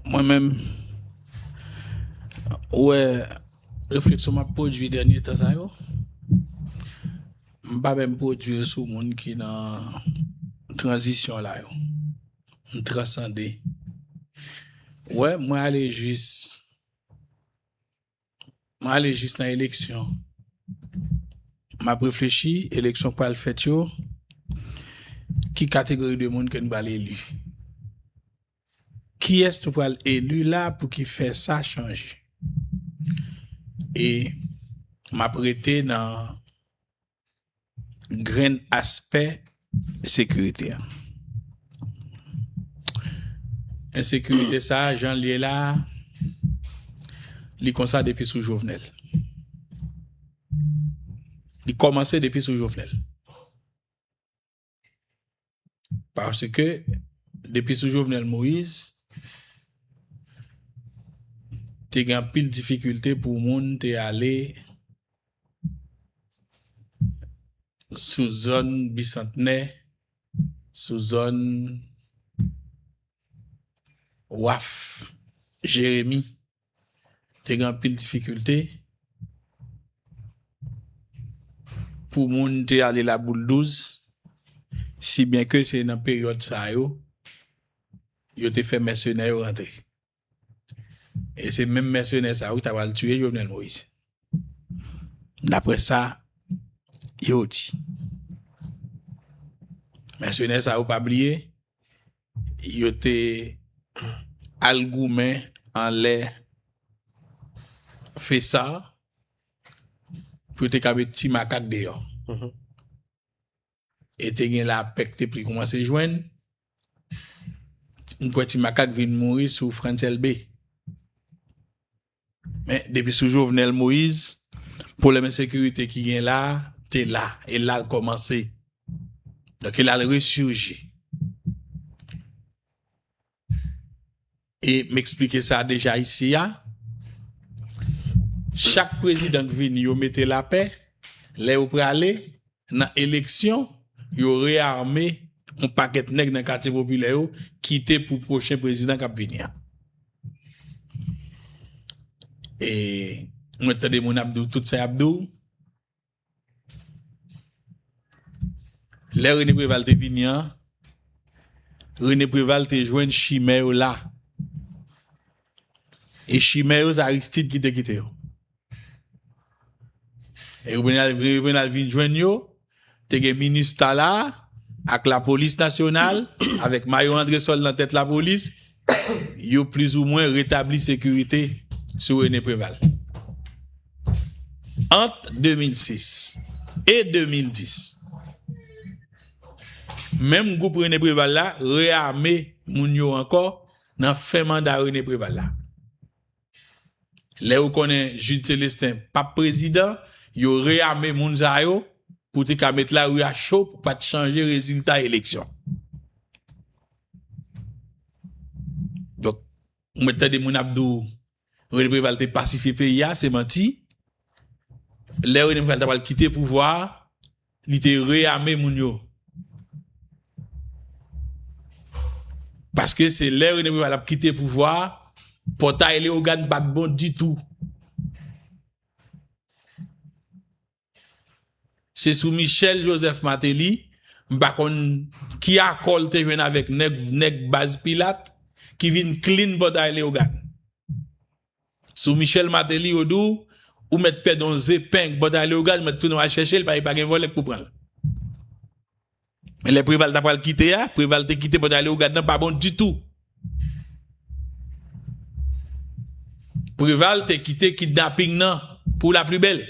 Mwen menm ou wè refleksyon map pwodwi dènye tan sa yo m pa menm pwodwi l sou moun ki nan tranzisyon la yo m transande wè mwen ale jis Mwen ale jis nan eleksyon. M ap reflechi, eleksyon k pral fèt yo, ki kategori de moun ke n pral eli? Kiyès nou pral eli la pou ki fè sa chanje? E m ap rete nan grenn aspè sekirite a. Ensekirite sa a, jan l ye la a, li konsa depi sou Jovenel. Li kòmanse depi sou Jovenel. Paske, depi sou Jovenel Moïse, te gen anpil difikilte pou moun te ale sou zòn Bisantnè, sou zòn Waf, Jeremi. Te gen anpil difikilte pou moun te ale Laboul 12, si byen ke se nan peryòd sa yo, yo te fè mèsenè yo rantre. E se menm mèsenè sa yo ki ta pral tiye Jovenel Moïse. Daprè sa yo di. Mèsenè sa yo pa bliye, Yo te al goumen anlè FESA pou yo te ka met ti makak deyò. E te gen lapè ki te pli koumanse jwenn. M kwè ti makak vin mouri sou Frantz Elbe. Men depi sou Jovenel Moise, pwoblèm ensekirite ki gen la a te la, e la l kòmanse. Donk e la l resurji. E m eksplike sa deja isi a, chak prezidan k vini yo mete lapè, lè yo prale, Nan eleksyon, yo rearme yon pakèt nèg nan katye popilè yo kite pou pwochen prezidan kap vini an. E mwen tande moun ap di w tout sa yap di w. Lè Rene Preval te vini an, Rene Preval te jwenn chimè yo la. E chimè yo se Aristide ki te kite yo. Revenal vin jwenn yo, te gen minustah la ak lapolis nasyonal avèk mayo andresòl nan tèt lapolis, yo plizoumwen retabli sekirite sou Rene Preval. Ant 2006 e 2010, menm gwoup Rene Preval la reame moun yo ankò nan fen manda Rene Preval la. Lè yo konnen Jude Celestin pap prezidan, yo reyame moun sa yo pou te ka met lari a cho pou pa t chanje rezilta eleksyon. Donk, ou mèt tande moun ap di w René Préval te pasifye peyi a, se manti. Lè René Préval ta pral kite pouvwa a, Li te reyame moun yo. Paske se lè René Préval ap kite pouvwa a, pòtay Léogâne pa t bon ditou. Se sou Michel Joseph Martelly, m pa konn ki akò l te jwenn avèk nèg baz Pilatte ki vin clean pòtay Léogâne. Sou Michel Martelly yo di w ou mèt pèdi yon ze peng bò tale ou gad ou mèt tounen wal chèche l paske pa gen vòlè k pou pran l. Men lè Preval ta pral kite a, Preval te kite bò tale ou gad lan pa bon ditou. Preval te kite kidnaping nan pou la pli bèl.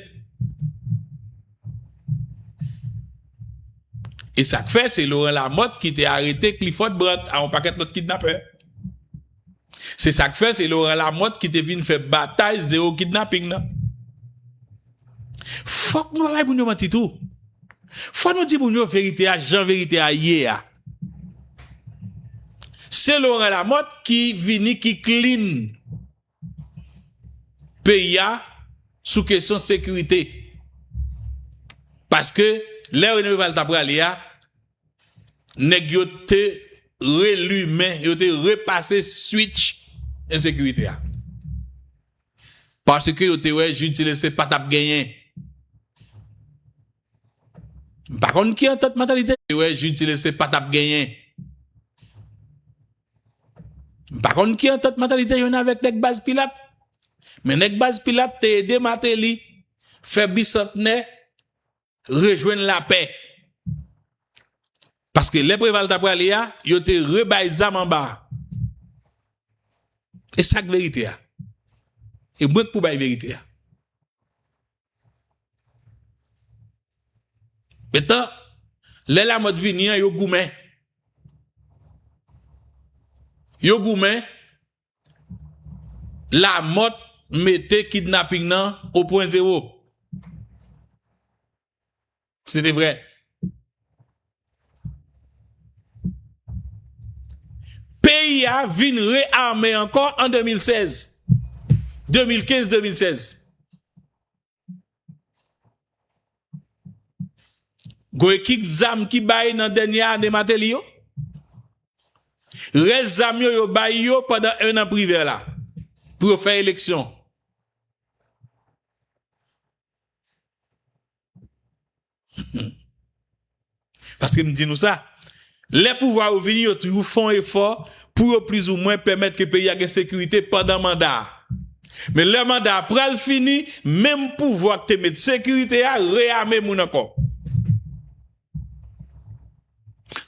E sa k fè se Laurent Lamothe ki te arete Clifford Brandt a yon pakèt lòt kidnapè. Se sa k fè se Laurent Lamothe ki te vin fè batay Zero Kidnapping lan. Fòk nou pa bay moun yo manti tou. Fòk nou di moun yo verite a jan verite a ye a. Se Laurent Lamothe ki vini ki clean peyi a sou kesyon sekirite. Paske lè René Préval ta prale a, Nèg yo te relumen, yo te repase switch ensekirite a. Paske yo te wè Jude Celestin pa t ap genyen. M pa konn ki antant mantalite yo te wè Jude Celestin pa t ap genyen. M pa konn ki antant mantalite yo gen avèk nèg Baz Pilat. Men nèg Baz Pilat te ede Martelly fè Bisantnè rejwenn lapè. Paske lè Preval ta prale a, yo te rebay zam anba. E sak verite a. E mwen k pou bay verite a. Metan, lè la mòt vini an, yo goumen. Yo goumen, Lamòt mete kidnaping nan o pwen zewo. Se te vre. Peyi a vin re-ame ankò an 2016. 2015-2016. Gwo ekip zam ki bay nan dènye ane Mateli yo? Rès zam yo yo bay yo pandan 1 an Privè la pou yo fè eleksyon. Paske m di nou sa, lè pouvwa yo vini yo toujou fè yon efò pou yo plizoumwen pèmèt ke peyi a gen sekirite pandan manda a. Men lè manda a pral fini, menm pouvwa ki te met sekirite a reyame moun ankò.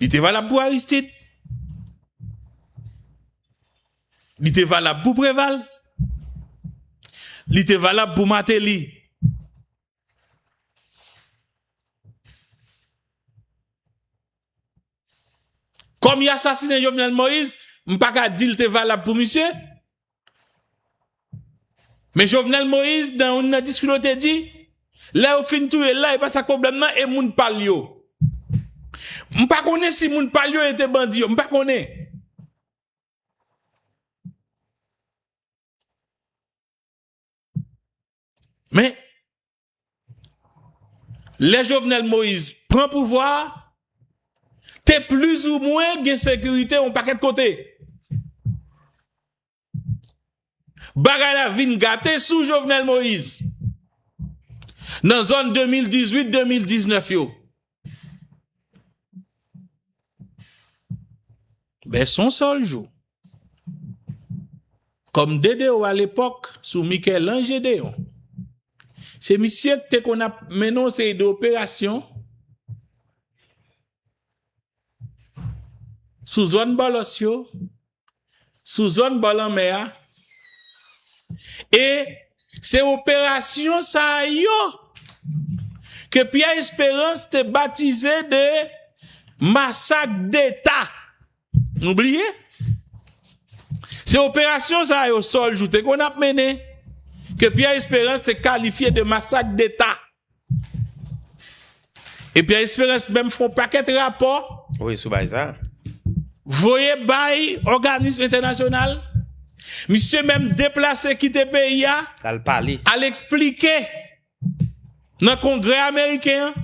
Li te valab pou Aristide. Li te valab pou Preval. Li te valab pou Martelly. Kòm yo asasinen Jovenel Moïse, m pa ka di l te valab pou misye, men Jovenel Moïse nan youn nan diskou l te di, lè yo fin touye l la e pa sa k pwoblèm nan e moun pa l yo. M pa konnen si moun pa l yo e te bandi yo, m pa konnen. Men, lè Jovenel Moïse pran pouvwa, te plis ou mwen gen sekirite yon pakèt kote. Bagay la vin gate sou Jovenel Moïse. Nan zòn 2018-2019 yo, Ben son sèl jou. Kòm DDO a lepòk sou Michel-Ange Gédéon. Se misye k te konn ap mennen yon seri de operasyon sou zòn Bòlòs yo. sou zòn bò lanmè a e se operasyon sa yo ke Pierre Espérance te batize de masak deta. Nou bliye? Se operasyon sa yo Sol Jouthe konn ap mennen ke Pierre Espérance te kalifye de masak deta. E Pierre Esperance menm fè yon pakèt rapò. Wi sou bagay sa. Voye bay òganism entènasyonal. Misye menm deplase kite peyi a. Al pale. Al esplike nan kongrè ameriken an.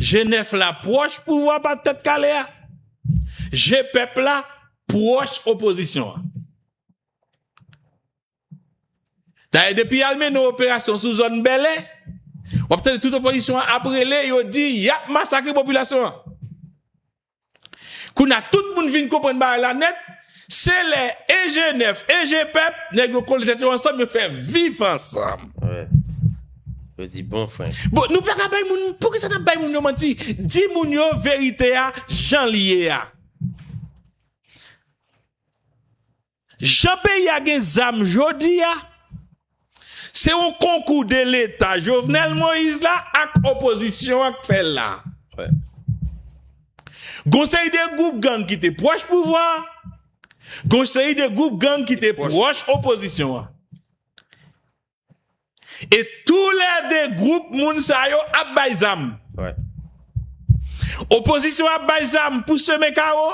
Je nèf la pwòch pouvwa pa tèt kale a, je pèp la pwòch opozisyon an. Dayè depi y al mennen operasyon sou zòn Bèlè, w ap tande tout opozisyon an ap rele yo di y ap masakre popilasyon an. Kounye a tout moun vin konprann bagay la nèt, se lè enjenèf, enjenpèp, nèg yo kole tèt yo ansanm yo fè viv ansanm. Wi. Yo di bon frenk. Bon, nou pa ka bay moun, poukisa n ap bay moun yo manti? Di moun yo verite a jan li ye a. Jan peyi a gen zam jodi a, se yon konkou de leta Jovenel Moïse la ak opozisyon an k fè l la. Gon seri de gwoup gang ki te pwòch pouvwa a, gon seri de gwoup gang ki te pwòch opozisyon an. E tou lè 2 gwoup moun sa yo ap bay zam. Opozisyon ap bay zam pou semen kawo,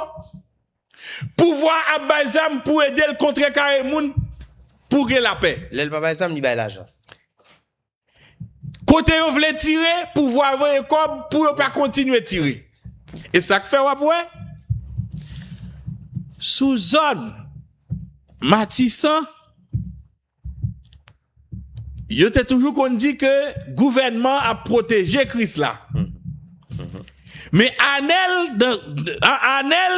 pouvwa ap bay zam pou ede l kontrekare moun pou gen lapè. Lè l pa bay zam, li bay lajan. Kote yo vle tire, pouvwa a voye kòb pou yo pa kontinye tire. E sa k fè w ap wè, sou zòn Matisan, Yo te toujou konn di ke gouvènman ap pwoteje Kris la. Men Anèl, Anèl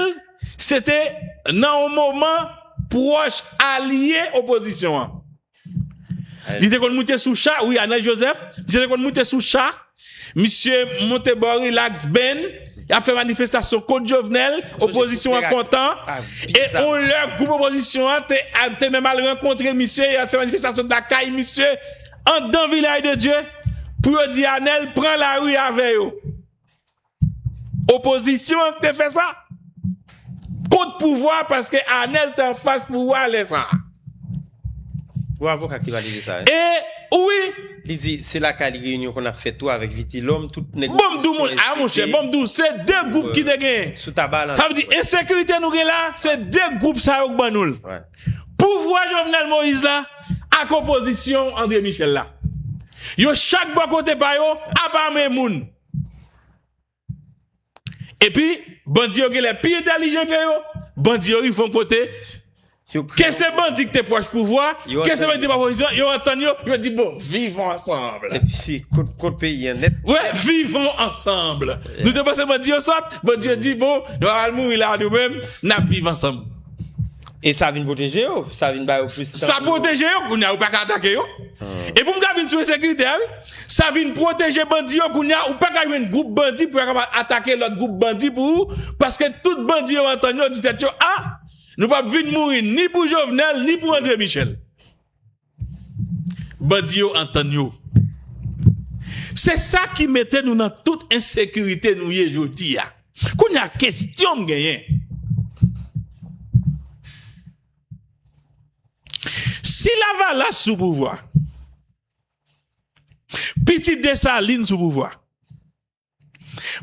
se te nan yon moman pwòch alye opozisyon an. Li te konn moute sou cha, wi Anèl Joseph, misye te konn moute sou cha. Misye monte bò relax band, yap fè manifestasyon kont Jovenel, opozisyon an kontan, e on lè gwoup opozisyon an te menm al rankontre misye, yo al fè manifestasyon lakay misye andan Vilaj de Dye pou yo di Anèl pran lari avè yo. Opozisyon an ki te fè sa? Kont pouvwa paske Anel te anfas pouvwa lè sa a. Ou avoka ki valide sa wi. E wi. Li di se lakay li reyinyon konn ap fèt tou avèk Vitilòm, tout nèg opozisyon esplike. Bon m di w moun, a monchè, bon m di w se 2 gwoup ki te genyen. Sou taba lan. Sa vle di ensekirite nou gen la a, se 2 gwoup sa yo ki ban nou l. Pouvwa Jovenel Moïse la ak opozisyon André Michel la. Yo chak bò kote pa yo ap ame moun. Epi bandi yo genlè pi entèlijan ke yo, bandi yo rive yon kote, ke se bandi ki te pwòch pouvwa, ke se bandi ki te pwòch opozisyon, yo antann yo, yo di bon, vivan ansanm. Epi se kont peyi an nèt. Wè, vivan ansanm. Nou te panse bandi yo sòt, bandi yo di bon, nou pa pral mouri la nou menm, n ap viv ansanm. E sa vin pwoteje yo, sa vin ba yo plis tan. Sa pwoteje yo, kounye a yo pa ka atake yo. E pou m ka vin sou ensekirite a wi, sa vin pwoteje bandi yo, kounye a ou pa ka jwenn gwoup bandi pou yo kapab atake lòt gwoup bandi pou ou, paske tout bandi yo antann yo di tèt yo a, nou p ap vin mouri ni pou Jovenel ni pou André Michel. Bandi yo antann yo. Se sa ki mete nou nan tout ensekirite nou ye jodi a. Kounye a kestyon m genyen. Si lavalas sou pouvwa, pitit Desalin sou pouvwa.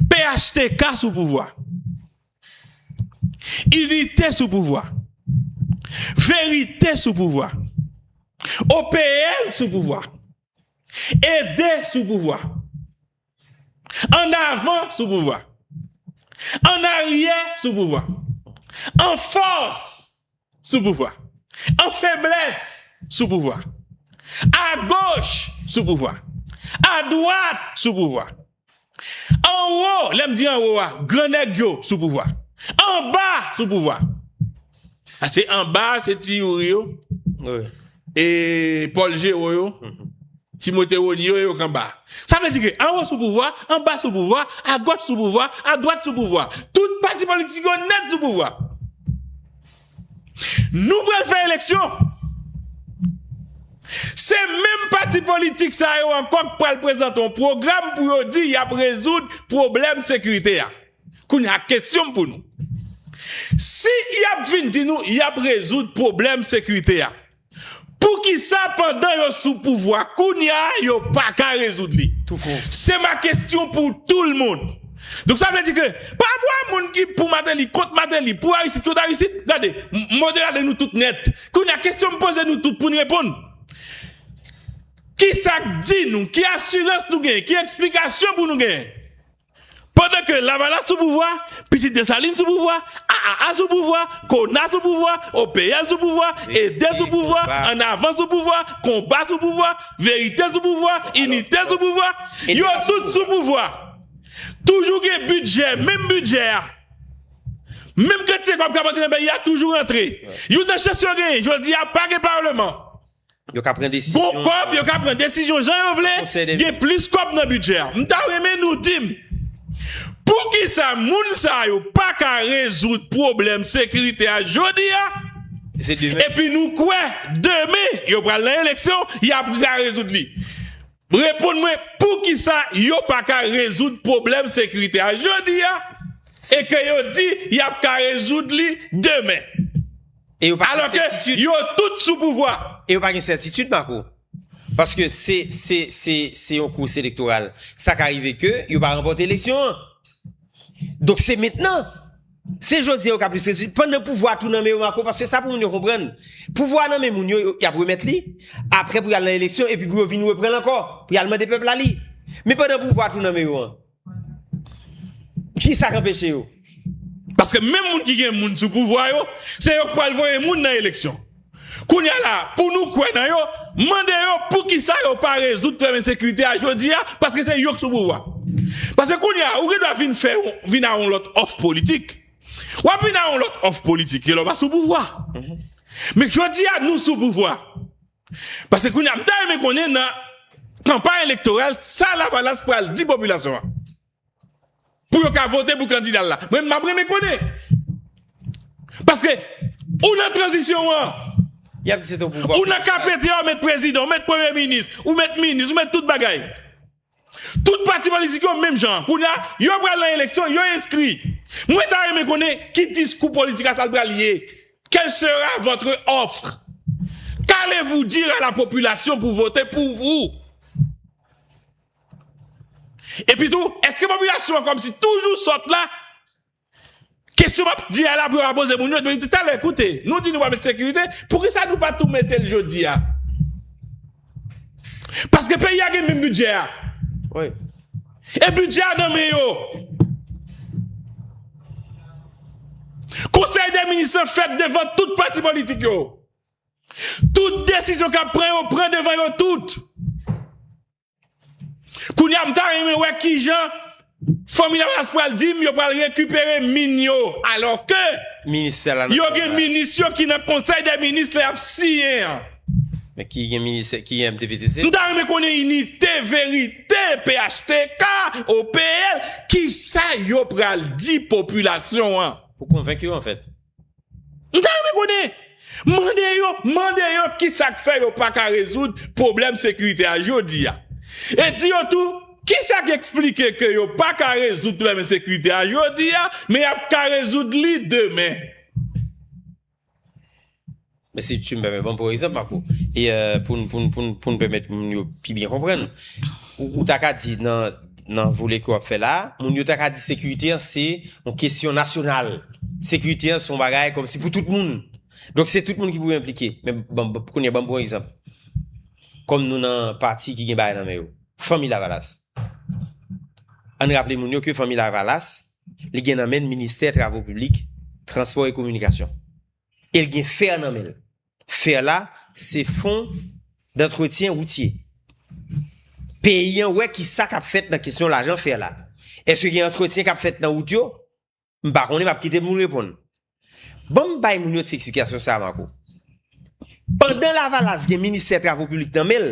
Phtk sou pouvwa. Inite sou pouvwa. Verite sou pouvwa. OPL sou pouvwa. Ede sou pouvwa. Annavan sou pouvwa. Annaryè sou pouvwa. Anfòs. sou pouvwa. An feblès sou pouvwa. A goch sou pouvwa. A dwat sou pouvwa. An wo, lè m di an wo a, gran nèg yo sou pouvwa. An ba sou pouvwa. Pase an ba se ti Youri yo, e Pòl Jero yo, Timote Rony yo e yo k an ba. Sa vle di ke an wo sou pouvwa, an ba sou pouvwa, a goch sou pouvwa, a dwat sou pouvwa. Tout pati politik yo nèt sou pouvwa. Nou pral fè eleksyon. Se menm pati politik sa yo ankò k pral prezante yon pwogram pou yo di y ap rezoud pwoblèm sekirite a. Kounye a, kesyon m pou nou, si y ap vin di nou y ap rezoud pwoblèm sekirite a, Poukisa pandan yo sou pouvwa kounya yo paka rezoud li? Se ma kestyon pou tou l mond. Donk sa vle di ke pa pou a moun ki pou Mateli, kont Mateli, pou Aristid, kont Aristid. Gade, m modera de nou tout nèt. Kounya kestyon m poze nou tout pou n reponn. Kisa k di nou, ki asirans nou genyen, ki eksplikasyon pou nou genyen? Pandan ke lavalas sou pouvwa, pitit Desalin sou pouvwa, AAA sou pouvwa, Kona sou pouvwa, OPL sou pouvwa, Ede sou pouvwa, An Avan sou pouvwa, Konba sou pouvwa, Verite sou pouvwa, Inite sou pouvwa, yo tout sou pouvwa. Toujou gen bidjè, menm bidjè a. Menm kantite kòb k ap antre nan peyi a toujou rantre. Youn nan chans yo genyen, jodi a pa gen Parleman. Yo ka pran desizyon. Gon kòb yo ka pran desizyon jan yo vle, gen plis kòb nan bidjè a. M ta renmen nou di m poukisa moun sa yo pa ka rezoud pwoblèm sekirite a jodi a epi nou kwè demen yo pral nan eleksyon y ap ka rezoud li. Reponn mwen poukisa yo paka rezoud pwoblèm sekirite a jodi a e ke yo di yap ka rezoud li demen? Alò ke yo tout sou pouvwa. E yo pa gen sètitid Marco. Paske se yon kous elektoral. Sa ka rive ke yo pa ranpòte eleksyon an. Donk se mentnan, se jodi yo ka plis rezil, pandan pouvwa tou nan men yo Mako, paske sa pou moun yo konprann, pouvwa nan men moun yo, y ap remèt li, apre pou y al nan eleksyon, epi pou yo vin reprann l ankò, pou y al mande pèp la li. Men pandan pouvwa tou nan men yo an, kisa k anpeche yo? Paske menm moun ki gen moun sou pouvwa yo, se yo k pral voye moun nan eleksyon. Kounya la pou nou kwè nan yo, mande yo poukisa yo pa rezoud pwoblèm ensekirite a jodi a paske se yo k sou pouvwa. Paske kounya ou gen dwa vin fè yon vin a yon lòt òf politik. W ap vin a yon lòt òf politik e lè w pa sou pouvwa. Men jodi a nou sou pouvwa. Paske kounya m ta renmen konnen nan kanpay elektoral sa lavalas pral di popilasyon an. pou yo ka vote pou kandida l la. Mwen map renmen konnen. Paske ou nan tranzisyon an, ou nan KPT a ou met prezidan, ou met premye minis, ou met minis, ou met tout bagay. Tout pati politik yo menm jan. Kounya yo pral nan eleksyon, yo enskri. Mwen ta renmen konnen ki diskou politika sa l pral ye. Quelle sera votre offre? Qu'allez-vous dire à la population pou vote pou vous? Epitou, eske popilasyon an kòmsi toujou sòt la? Kesyon m ap di a la pou yo pa poze moun yo, yo di talè koute, nou di nou pral met sekirite, poukisa nou pa tou mete l jodi a? Paske peyi a gen menm bidjè a. E bidjè a nan men yo. Konsèy dè minis lan fèt devan tout pati politik yo. Tout desizyon k ap pran yo pran devan yo tout. Kounya m ta renmen wè kijan Fanmi Lavalas pral di m yo pral rekipere min yo alò ke yo gen minis yo ki nan konsèy dè minis lè y ap siyen an. Men ki gen minis ki gen MDPTC? M ta renmen konnen inite verite phtk, OPL kisa yo pral di popilasyon an. Pou konvenk yo anfèt. M ta renmen konnen! Mande yo, mande yo kisa k fè yo pa ka rezoud pwoblèm sekirite a jodi a. E di yo tou, kisa k esplike ke yo pa ka rezoud pwoblèm ensekirite a jodi a, men y ap ka rezoud li demen. Men si tu me permets, banm pou egzanp Marco, e poun poun poun poun pèmèt moun yo pi byen konprann. Ou ou ta ka di nan nan vole ke wap fè la, moun yo ta ka di sekirite an se yon kesyon nasyonal. Sekirite an se yon bagay kòmsi pou tout moun. Donk se tout moun ki pou yo enplike. Men banm banm kounye banm pou egzanp. Kòm nou nan pati ki gen bagay nan men yo. Fanmi Lavalas. Ann raple moun yo ke Fanmi Lavalas li gen nan menn ministè travo piblik, transpò e kominikasyon. El gen fer nan menl. Fer la se fon dantretyen woutye. Peyi an wè ki sa kap fèt nan kesyon lajan fer la. Eske gen antretyen kap fèt nan wout yo? M pa konnen map kite moun reponn. Banm bay moun yo ti eksplikasyon sa Marco. Pandan lavalas gen ministè travo piblik nan menl,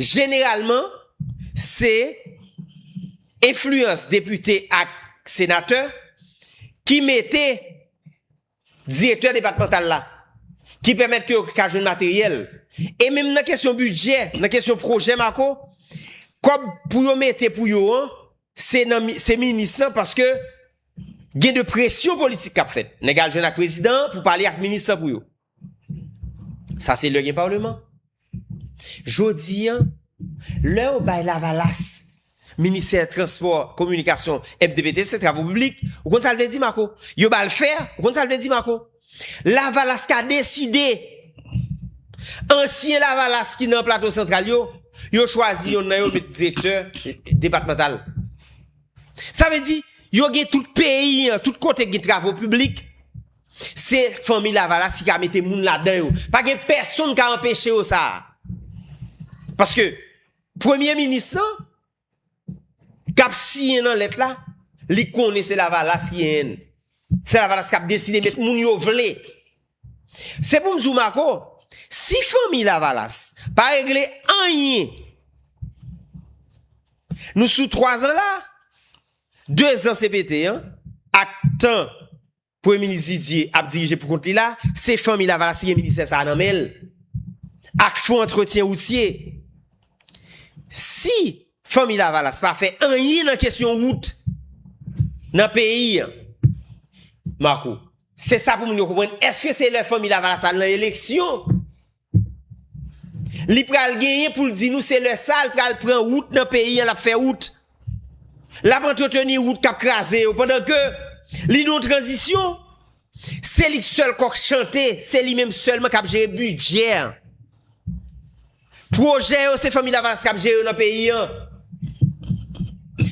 Jeneralman, se enfliyans depite ak senatè ki mete direktè depatmantal la, ki pèmèt ke yo ka jwenn materyèl. E menm nan kesyon bidjè, nan kesyon pwojè Mako, kòb pou yo mete pou yo an, se minis lan paske gen de presyon politik kap fèt. Nèg al jwenn ak prezidan pou pale ak minis lan pou yo. Sa se lè gen parleman. Jodi an, lè yo bay lavalas ministè transpò, kominikasyon, MTPT, se travo piblik, ou konn sa l vle di Mako? Yo ba l fè, ou konn sa l vle di Mako? Lavalas ka deside, ansyen lavalas ki nan plato santral yo, yo chwazi yonn nan yo met direktè depatmantal. Sa vle di, yo gen tout peyi an, tout kote gen travo piblik, Se fanmi lavalas ki ka mete moun ladan yo. Pa gen pèsonn ka anpeche yo sa. Paske premye minis lan kap siyen nan lèt la, li konnen se lavalas ki en. Se lavalas kap deside met moun yo vle. Se pou m di w Mako, si fanmi lavalas pa regle anyen, nou sou 3 zan la, 2 zan CPT an ak tan Premye minis Didier ap dirije pou kont li la, se Fanmi Lavalas ki gen ministè sa a nan men l, ak Fon antretyen woutye. Si Fanmi Lavalas pa fè anyen nan kesyon wout nan peyi an, Marco, se sa pou moun yo konprann, èske se lè Fanmi Lavalas al nan eleksyon? Li pral genyen pou l di nou se lè sa l pral pran wout nan peyi an l ap fè wout. L ap antreteni wout k ap kraze yo pandan ke li nan yon tranzisyon. Se li k sèl kòk chante, se li menm sèlman k ap jere bidjè an. Pwojè yo se Fanmi Lavalas k ap jere yo nan peyi an,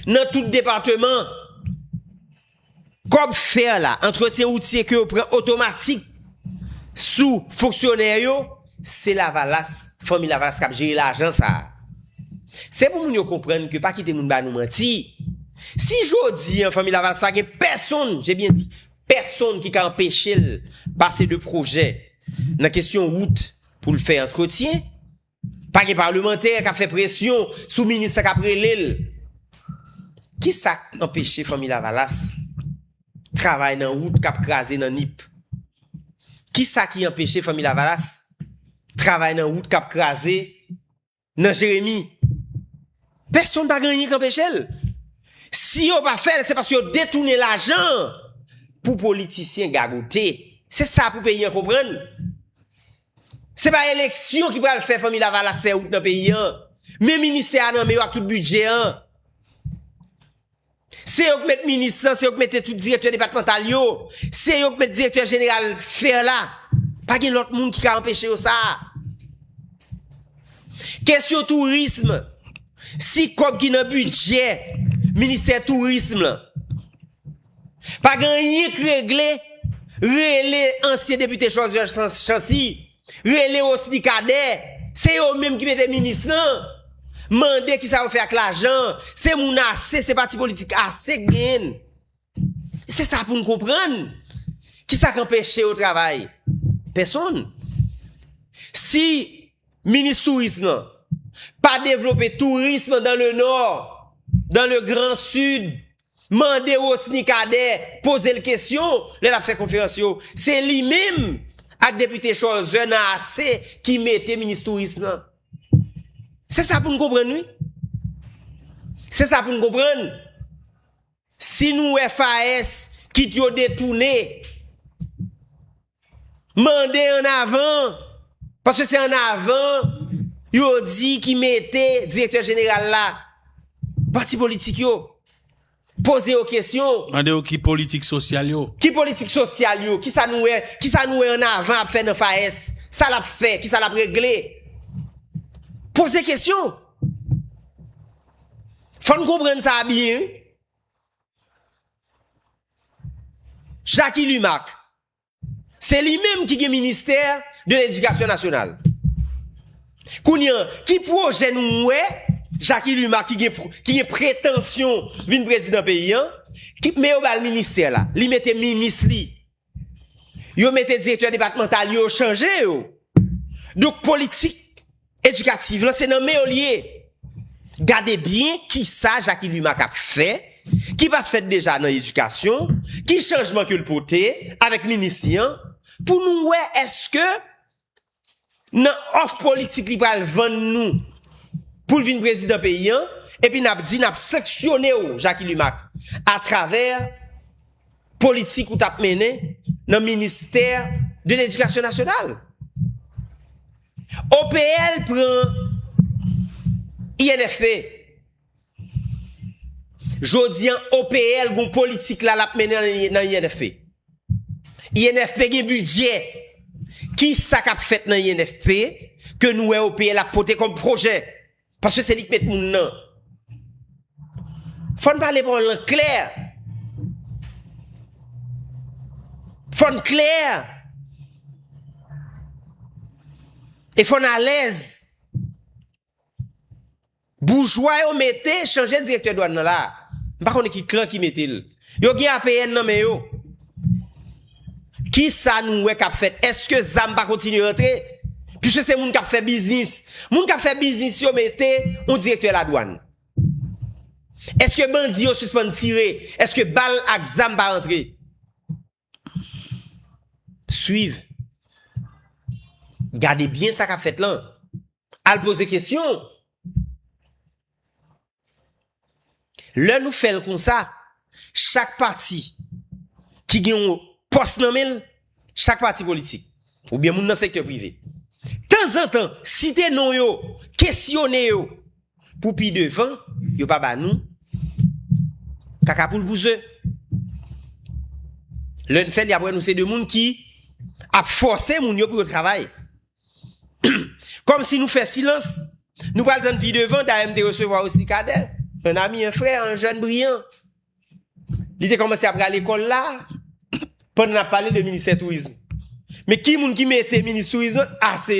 nan tout depateman. Kòb fer la, antretyen woutye ke yo pran otomatik sou fonksyonè yo, se lavalas, fanmi lavalas kap jere lajan sa. Se pou moun yo konprann ke pa kite moun ba nou manti, si jodi an fanmi lavalas pa gen pèsonn, je byen di, pèsonn ki ka anpeche l pase de pwojè nan kesyon wout pou l fè antretyen, Pa gen palemantè k ap fè presyon sou minis la k ap rele l. Ki sa k anpeche Fanmi Lavalas travay nan wout k ap kraze nan Nip? Ki sa ki anpeche Fanmi Lavalas travay nan wout k ap kraze nan Jeremi? Pèsonn pa gen anyen k anpeche l. Si yo pa fè l, se paske yo detounen lajan an pou politisyen gagote. Se sa pou peyi an konprann. Se pa eleksyon ki pral fè Fanmi Lavalas fè wout nan peyi an. Men ministè a nan men yo ak tout bidjè an. Se yo k met minis lan, se yo k mete tout direktè depatmantal yo, se yo k met direktè jeneral fer la. Pa gen lòt moun ki ka anpeche yo sa. Kesyon tourism, si kòb ki nan bidjè ministè tourism lan, Pa gen anyen k regle, rele ansyen depite Joseph Chancy, rele Rosny Cadet, se yo menm ki mete minis lan. Mande kisa yo fè ak lajan an, se moun ase, se pati politik ase k genyen. Se sa pou n konprann. Kisa k anpeche yo travay? Pèsonn. Si minis tourism lan pa devlope tourism dan le nò, dan le gran sid, Mande Rosny Cadet poze l kesyon lè l ap fè konferans yo. Se li menm ak depite Cholzer nan ase ki mete minis touris lan. Se sa pou n konprann wi. Se sa pou n konprann. Si nou wè FAES kit yo detounen. Mande an avan, paske se an avan yo di ki mete direktè jeneral la. Pati politik yo. Poze yo kesyon. Mande yo ki politik sosyal yo. Ki politik sosyal yo? Kisa nou wè, kisa nou wè an avan ap fè nan FAES? Sa l ap fè? Kisa l ap regle? Poze kesyon. Fò n konprann sa byen wi. Jacky Lumac, se li menm ki gen ministè de ledikasyon nasyonal. Kounye an, ki pwojè nou wè Jacky Lumac ki gen pretansyon vin prezidan peyi an, men yo ba l ministè la, li mete minis li. Yo mete direktè depatmantal yo, yo chanje yo. Donk politik edikativ lan se nan men yo li ye. Gade byen ki sa Jacky Lumac ap fè, ki pa fèt deja nan edikasyon, ki chanjman ke l pote avèk minis li an, pou nou wè èske Nan òf politik li pral vann nou pou l vin prezidan peyi an, epi n ap di n ap sanksyone w Jacky Lumack atravè politik ou t ap mennen nan ministè de ledikasyon nasyonal. OPL pran INFP. Jodi an OPL gon politik la lap mennen nan INFP. INFP gen bidjè. Ki sa kap fèt nan INFP ke nou wè OPL ap pote kon pwojè? Paske se li k met moun nan. Fòn pale pa w lan klè. Fòn klè. E fòn alèz. Boujwa yo mete chanje direktè dwan nan la. M pa konnen ki klan ki mete l. Yo gen APN nan men yo. Kisa nou wè k ap fèt? Eske zam pa kontinye rantre? Piske se moun k ap fè biznis. Moun k ap fè biznis yo mete yon direktè ladwann. Eske bandi yo sispann tire? Eske bal ak zam pa rantre? Swiv. Gade byen sa k ap fèt lan. Al poze kesyon. Lè nou fè l konsa, chak pati ki gen yon pòs nan men l, chak pati politik, Oubyen moun nan sektè prive. Tanzantan, site non yo, kesyone yo. Pou pi devan, yo pa ba nou kaka poul pou ze. Lè n fè l, y ap wè nou se de moun ki ap fòse moun yo pou yo travay. Kòmsi nou fè silans, nou pral tann pi devan. Dayè m te resevwa osi Kadè, un ami, un frère, un jeune brillant. Li te kòmanse apre al ekòl la pandan nap pale de ministè tourism. Men ki moun ki mete minis tourism lan ase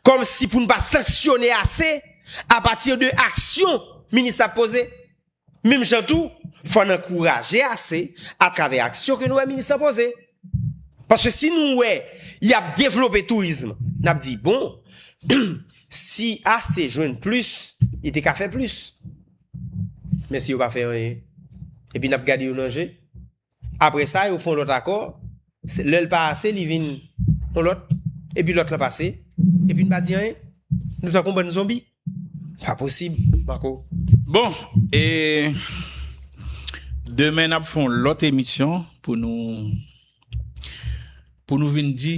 kòm si pou nou pa sanksyone ase a pati de aksyon minis la poze. Menm jan tou fò nan kouraje ase a travè aksyon ke nou wè minis la poze. Paske si nou wè yap devlope tourism nap di bon si ase jwenn plis li te ka fè plis. Mensi yo pa fè anyen. Epi nap gade yo nan je. Apre sa yo fon lòt akò, lèl pa ase li vin yon lòt, epi lòt lan pase, epi n pa di anyen. Nou tankou yon bann zonbi. Pa posib Marco. Bon e demen nap fon lòt emisyon pou nou pou nou vin di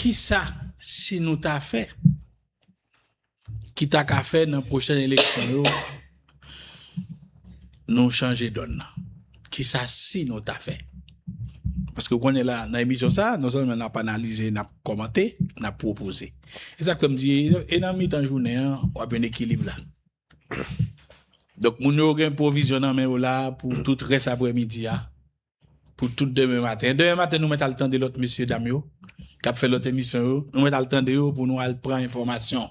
kisa si nou ta fè. ki ta ka fè nan pwochèn eleksyon yo nou chanje dòn nan? Kisa si nou ta fè? Paske ou konnen la nan emisyon sa, non sèlman n ap analize, n ap kòmante, n ap pwopoze. E sa k fè m di e nan mitan jounen an w ap jwenn ekilib la. Donk moun yo gen pwovizyon nan men yo la pou tout rès aprèmidi a. pou tout demen maten. Demen maten nou mèt al tande lòt mesye dam yo k ap fè lòt emisyon yo. Nou mèt al tande yo pou nou al pran enfòmasyon.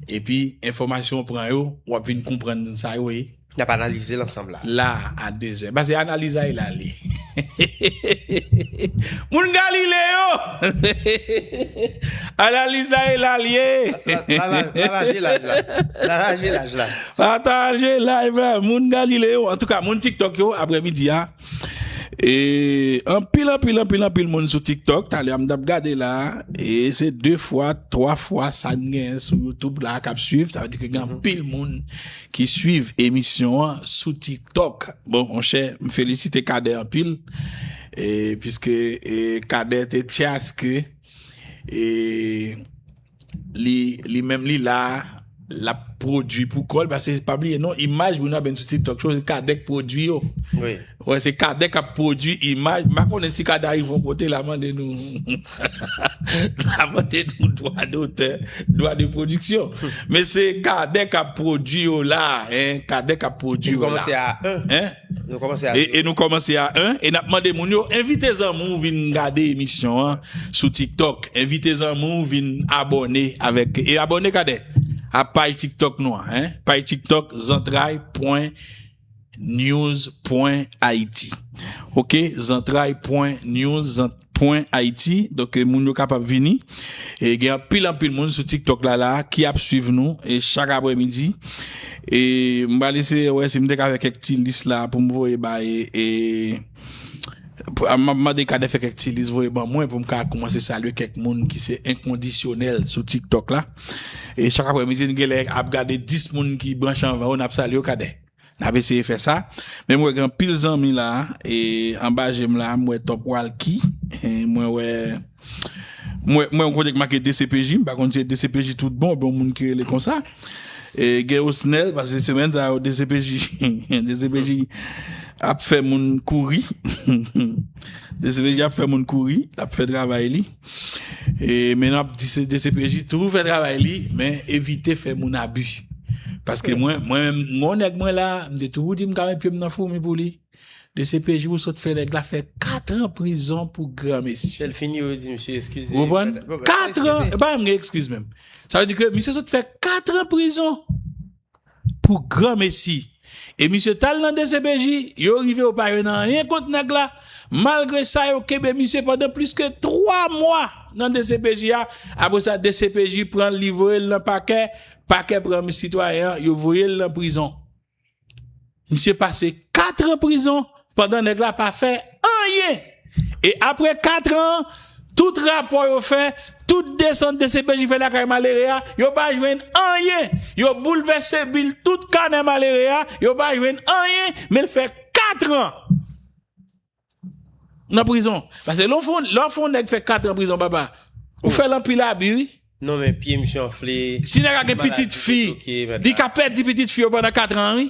Epi enfòmasyon w pran yo, w ap vin konprann sa yo ye. Y ap analize l ansanm la. La a dezè. Pase analizay la li. Moun Galile yo! Analize la e la li ye. La raje laj la. La raje laj la. Pataje live la moun galile yo antouka moun tiktok yo aprè midi a anpil anpil anpil anpil moun sou tiktok talè a m tap gade la e se 2 fwa 3 fwa sa n gen sou youtube la kap swiv sa vle di ke gen anpil moun ki swiv emisyon an sou tiktok bon monchè m felisite Cadet anpil e piske Cadet te tchaske e. Li menm li la lap prodwi pou kòl pase pa bliye non imaj moun ap vin sou tiktok cho se Cadet k prodwi yo wi wè se Cadet kap prodwi imaj m pa konnen si Cadet arive yon kote la mande nou la mande nou dwa dotè dwa de pwodiksyon men se Cadet kap prodwi yo la Cadet kap pwodwi yo la li kòmanse a 1 E nou kòmanse a 1 e nap mande moun yo envite zanmi w vin gade emisyon an sou tiktok envite zanmi w vin abòne avèk e abòne kade a paj tiktok nou an paj tiktok zantray pwen news pwen ayiti ok zantray pwen news zantray. pwen ayiti donk moun yo kapab vini e gen anpil anpil moun sou tik tok la la ki ap swiv nou e chak aprè midi e m pral eseye wè si m te ka fè kèk ti lis la pou m voye bay e map mande kade fè kèk ti lis voye ban mwen pou m ka koumanse salye kèk moun ki se enkondisyonèl sou tik tok la e chak aprè midi n genlè ap gade 10 moun ki branche anvan yo nap salye yo kade. Nap eseye fè sa men mwen wè gen anpil zanmi la e anba jem la mwen wè top walky mwen wè mwen wè yon kote ki make dcpj m pa konn si se dcpj tout bon oubyen yon moun ki rele konsa e gen osnel pase semèn sa yo dcpj dcpj ap fè moun kouri dcpj ap fè moun kouri lap fè travay li. Men nap di dcpj toujou fè travay li men evite fè moun abi paske mwen menm gon nèg mwen la m te toujou di m ka met pyem nan foumi pou li dcpj ou sot fè nèg la fè 4 an prizon pou gran mesi lèl fini yo di misye eskize ou konprann 4 an epa m gen ekskiz menm sa vle di ke misye sot fè 4 an prizon Pou granmesi. E misye tal nan dcpj, yo rive yo pa jwenn anyen kont nèg la, malgre sa yo kenbe misye pandan plis ke 3 mwa nan dcpj a, apre sa dcpj pranl li voyel nan pakè, pakè pran sitwayen an yo voyel nan prizon. Misye pase 4 ans prizon pandan nèg la pa fè anyen e aprè 4 ans an tout rapò yo fè tout desant dcpj fè lakay malere a yo pa jwenn anyen yo boulvèse bil tout kanè malere a yo pa jwenn anyen men l fè 4 ans Nan prizon. Pase lè w fè yon nèg fè 4 an prizon papa, ou fè l anpil abi wi. Non men pye misye anfle. Si nèg la gen pitit fi, li ka pèdi pitit fi yo pandan 4 an wi.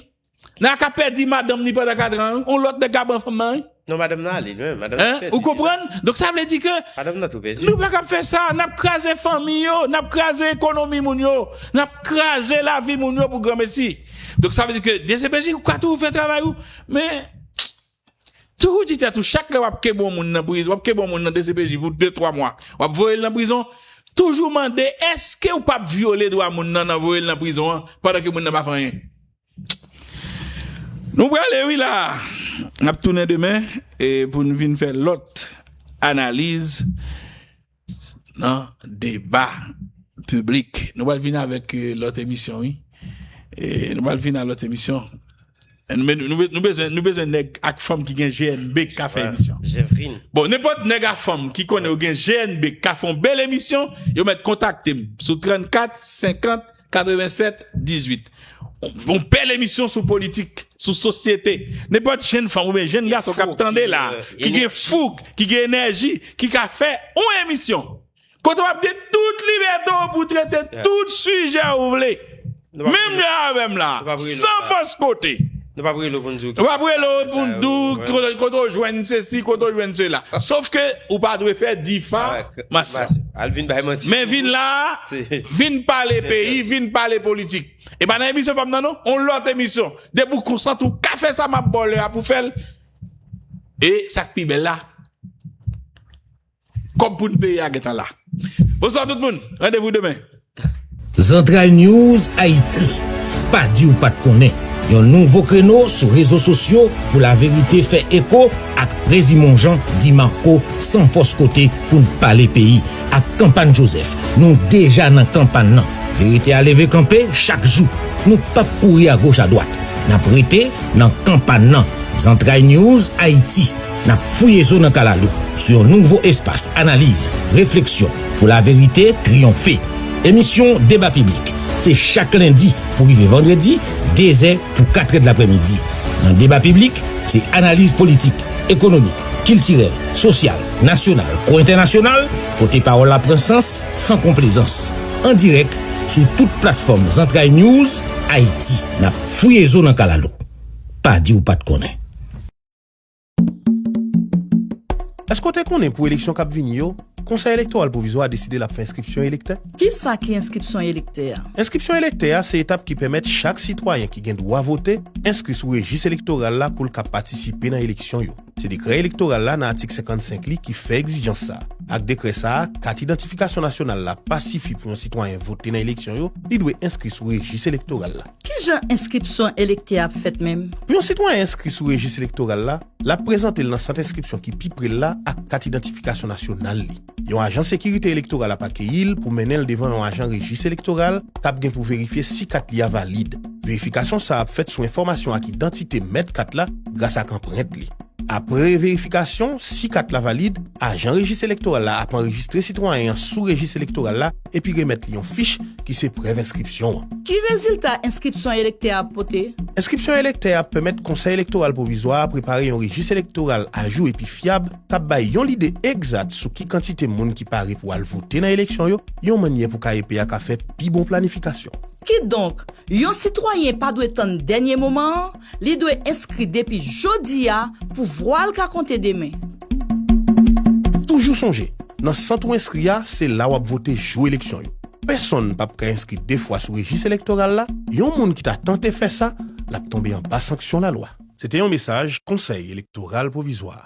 Nèg la ka pèdi madanm li pandan 4 an wi. Yon lòt nèg ka pran fanm nan wi. Non madanm nan ale menm. Madanm nan pèdi. Ou konprann? Donk sa vle di ke. Madanm nan tou pèdi. Nou pa kab fè sa. Nap kraze fanmi yo. Nap kraze ekonomi moun yo. Nap kraze lavi moun yo pou granmesi. Donk sa vle di ke dcpj ou ka toujou fè travay ou. Men. Toujou di tèt ou chak lè wap kebe yon moun nan prizon, wap kebe yon moun nan dcpj pou 2 3 mwa, wap voyel nan prizon, toujou mande eskew pap vyole dwa moun nan nan voyel nan prizon an pandan ke moun nan pa fè anyen. Nou prale wi la a. Nap tounen demen pou nou vin fè lòt analiz. nan deba piblik nou pral vin avèk lòt emisyon wi nou pral vin a lòt emisyon nou bezwen nèg ak fanm ki gen GNB ki ka fè emisyon bon nenpòt nèg ak fanm ki konnen yo gen GNB ki ka fè yon bèl emisyon yo mèt kontakte m sou 34 50 87 18 yon bèl emisyon sou politik sou sosyete nenpòt jenn fanm oubyen jenn gason kap tande la ki gen foug ki gen enèji ki ka fè yon emisyon kote wap gen tout libète w pou trete tout sijè ou vle menm jan avèm la san fòs kote. Nou pap rele w pou n di w ki sa yo. Nou pap rele w pou n di w kote w jwenn sesi, kote w jwenn sela. Sof ke ou pa dwe fè difamasyon. Al vin bay manti. Men vin la, vin pale peyi, vin pale politik. E pa nan emisyon pa m nan non. On lòt emisyon. Depi w konsante ou ka fè sa m ap ba w lè a pou w fè l. E sa k pi bèl la. Kob pou n peye a gentan la. Bonswa tout moun, randevou demen. Zantray News Haïti, pa di ou pat konnen, yon nouvo kreno sou rezo sosyo pou laverite fè eko ak Prezi Monjan di Marco san fòs kote pou n pale peyi ak Kanpàn Joseph nou deja nan kanpàn nan verite a leve kanpe chak jou nou pap kouri agoch adwat nap rete nan kanpàn nan Zantray News Haïti. N ap fouye zo nan kalalou sou yon nouvo espas analiz, refleksyon pou laverite triyonfe. Emisyon Deba Piblik se chak lendi pou rive vandredi, dezè pou katrè dlaprèmidi. Nan Deba Piblik, se analiz politik, ekonomik, kiltirèl, sosyal, nasyonal kou entènasyonal, kote pawòl la pran sans san konplezans. An dirèk sou tout platfòm Zantray News Ayiti. N ap fouye zo nan kalalou. Pa di ou pa t konnen. Èske w te konnen pou eleksyon k ap vini yo, Konsèy Elektoral Pwovizwa a deside l ap fè enskripsyon elektè? Ki sa ki enskripsyon elektè a? Enskripsyon elektè a se etap ki pèmèt chak sitwayen ki gen dwa vote enskri sou rejis elektoral la pou l ka patisipe nan eleksyon yo. Se dekrè elektoral la nan atik 55 li ki fè egzijans sa a. Ak dekrè sa a, kat idantifikasyon nasyonal la pa sifi pou yon sitwayen vote nan eleksyon yo, li dwe enskri sou rejis elektoral la. Ki jan enskripsyon elektè a ap fèt menm? Pou yon sitwayen enskri sou rejis elektoral la, l ap prezante l nan sant enskripsyon ki pi pre l la ak kat idantifikasyon nasyonal li. Yon ajan sekirite elektoral ap akeyi l pou mennen l devan yon ajan rejis elektoral k ap gen pou verifye si kat li a valid. Verifikasyon sa a ap fèt sou enfòmasyon ak idantite mèt kat la gras ak anprent li. Apre verifikasyon, si kat la valid, ajan rejis elektoral la ap anrejistre sitwayen an sou rejis elektoral la epi remèt li yon fich ki se prèv enskripsyon an. Ki rezilta enskripsyon elektè a ap pote? Enskripsyon elektè a pèmèt Konsèy Elektoral Pwovizwa a prepare yon rejis elektoral ajou epi fyab k ap bay yon lide egzat sou ki kantite moun ki pare pou al vote nan eleksyon yo, yon mannyè pou KEP a ka fè pi bon planifikasyon. Kidonk, yon sitwayen pa dwe tann dènye moman an Li dwe enskri depi jodi a pou vwa l ka konte demen. Toujou sonje, nan sant ou enskri a, se la w ap vote jou eleksyon yo. Pèsonn pap ka enskri de fwa sou rejis elektoral la, yon moun ki ta tante fè sa, l ap tonbe anba sanksyon lalwa. Se te yon mesaj Konsèy Elektoral Pwovizwa.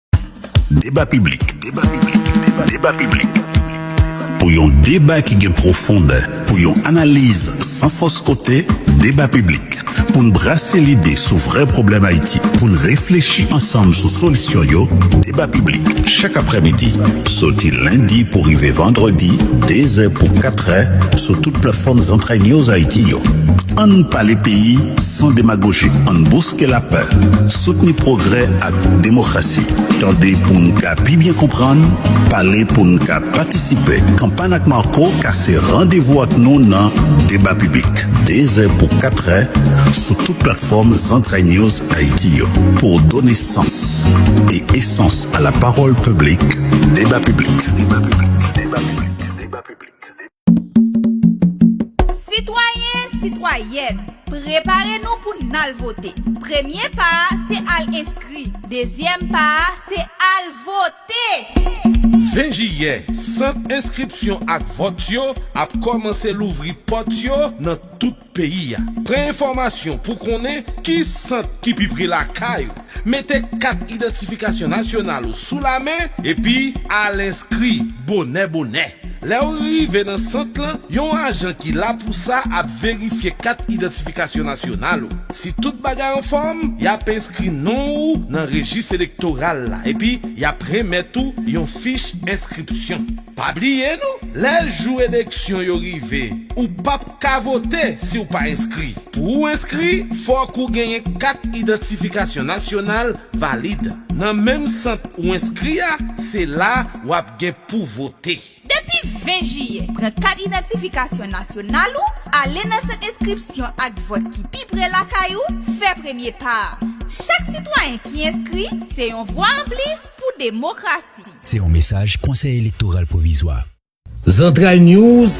Deba piblik Deba piblik Pou yon deba ki gen pwofondè Pou yon analiz san fòs kote Deba piblik Pou n brase lide sou vrè pwoblèm Ayiti Pou n reflechi ansanm sou solisyon yo Deba piblik Chak aprèmidi Soti lendi pou rive vandredi Dezè pou katrè Sou tout platfòm Zantray News Ayiti yo An n pale peyi san demagoji An n bouske lapè Soutni pwogrè ak. ak demokrasi. Tande pou n ka pi byen konprann, pale pou n ka patisipe. Kanpay ak Marco ka se randevou ak nou nan Deba Piblik, dezè pou katrè, sou tout platfòm Zantray News Ayiti yo. Pou w done sans e esans a lapawòl piblik, Deba Piblik. Sitwayen, sitwayèn, prepare nou pou n al vote. Premye pa a se al enskri. Dezyèm pa a se al vote! 20 jiyè, sant enskripsyon ak vòt yo ap kòmanse louvri pòt yo nan tout. Peyi a. Pran enfòmasyon pou konnen ki sant ki pi pre lakay ou. Mete kat idantifikasyon nasyonal ou sou lamen epi al enskri bonè bonè. Lè ou rive nan sant lan, yon ajan ki la pou sa ap verifye kat idantifikasyon nasyonal ou. Si tout bagay anfòm, y ap enskri non ou nan rejis elektoral la epi y ap renmèt ou yon fich enskripsyon. Pa bliye non, lè jou eleksyon yo rive, ou pap ka vote si w pa enskri. Pou ou enskri, fòk ou genyen kat idantifikasyon nasyonal valid. Nan menm sant ou enskri a, se la w ap gen pou vote. Depi 20 jiyè, pran kat idantifikasyon nasyonal ou, ale nan sant enskripsyon ak vòt ki pi pre lakay ou, fè premye pa a. Chak sitwayen ki enskri, se yon vwa anplis pou demokrasi. Se yon mesaj Konsèy Elektoral Pwovizwa. Zantray news,